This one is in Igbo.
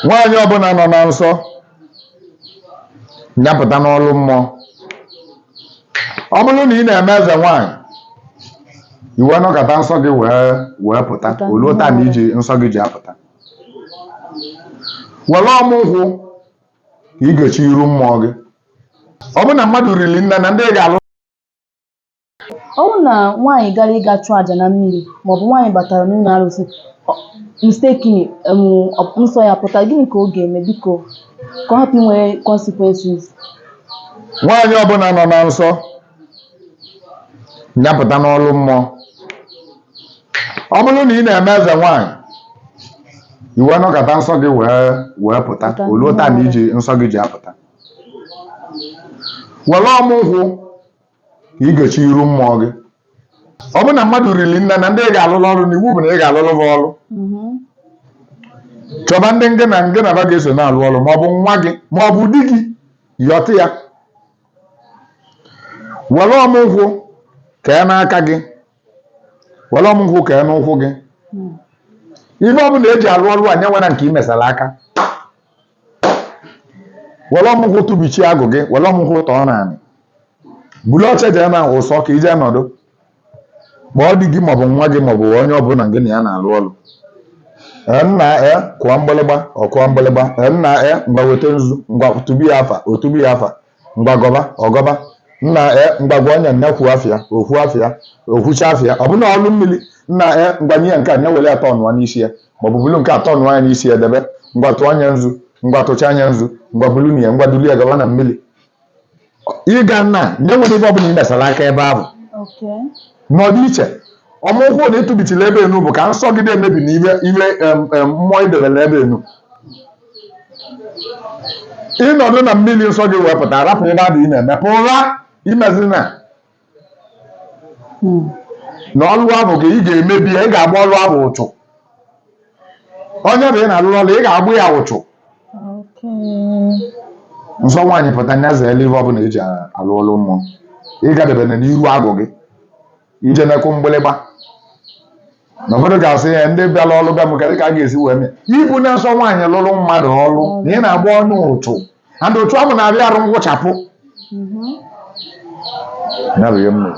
Nwaanyị ọbụla nọ na nsọ nya pụta n'ọlụ mmụọ. Ọ bụrụ na ị na-eme eze nwaanyị, i wee nọkata nsọ gị wee wee pụta, Pụta. o luo taa na iji nsọ gị ji apụta. Were ọmụ nkwụ ka ị gechie iru mmụọ gị. Ọ bụrụ na mmadụ riri nne na ndị ị ga-alụ Ọ bụrụ na nwaanyị gara ịga chụọ aja na mmiri maọbụ nwaanyị batara n'ụlọ arụsị ọ- mistakenly em, ọ- nsọ ya pụta gịnị ka ọ ga-eme biko ka ọ hapụ inwe consequences nwaanyị ọbụla nọ na nsọ nya pụta n'ọlụ mmụọ ọ bụrụ na ị na-eme eze nwaanyị i wee nọkata nsọ gị wee wee pụta Pụta. o luo taa na iji nsọ gị ji apụta were ọmụ nkwụ ka ị gechie iru mmụọ gị ọ bụrụ na mmadụ riri nne na ndị ị ga-alụrụ ọrụ na iwu bụ na ị ga-alụrụ ha ọrụ chọba ndị ngị na ngị na va ga-eso na-alụ ọrụ ma ọ bụ nwa gị ma ọ bụ di gị yọta ya were ọmụ nkwụ kee n'aka gị were ọmụ nkwụ kee n'ụkwụ gị ive ọ bụla eji alụ ọrụ a nya enwene nke ị mesara aka were ọmụ nkwụ tụbichie agwụ gị were ọmụ nkwụ tọọ n'anị buru oche jee na ụsọ ka i je nọdụ kpọọ di gị maọbụ nwa gị maọbụ onye ọbụla gị na ya na-alụ ọlụ Ee, nna e kụọ mgbịlịgba ọ kụọ mgbịlịgba Ee, nna e ngwa weta nzu ngwa tụbi ya afa o tụbi ya afa ngwa gọba ọ gọba nna e ngwa gwa onye nne kwuo afịa o kwuo afịa o kwucha afịa ọ bụna ọlụ mmiri nna e ngwa nye ya nke a na-ewere atọ ọnụọ n'isi ya maọbụ bulu nke atọ ọnụọ ya n'isi ya debe ngwa tụọ anya nzu ngwa tụcha anya nzu ngwa bulu na ya ngwa duli ya gawa na mmiri ịga nna nya enwene ive ọbụla ị mesara aka ebe ahụ Okay. nọdụ iche ọmụ nkwụ na ị tụbichila ebe enu bụ ka nsọ gị emebina ive ive em, em, mmụọ i debere ebe enu ị nọdụ na mmiri nsọ gị wee pụta rapụ ebe ahụ ị na-eme pụra imezina na ọlụ ahụ gị ị ga-emebi ya ị ga-agba ọlụ ahụ ụchụ onye ahụ ị na-alụrụ ọlụ ị ga-agba ya ụchụ nsọ nwaanyị pụta nya zeelu ihe ọbụla eji alụ ọlụ mmụọ ịgadebena n'iru agwụ gị ijene ịkụ mgbịlịgba na ụfọdụ ga-asị ya ndị bịara ọrụ ga m ka ka a ga-esi wee mee i bu nsọ nwaanyị lụrụ mmadụ ọrụ na ị na-agba ọlụ ụchụ and otu ahụ na-abịa arụ nwụchapụ Mhm. ya bụ ihe m mere.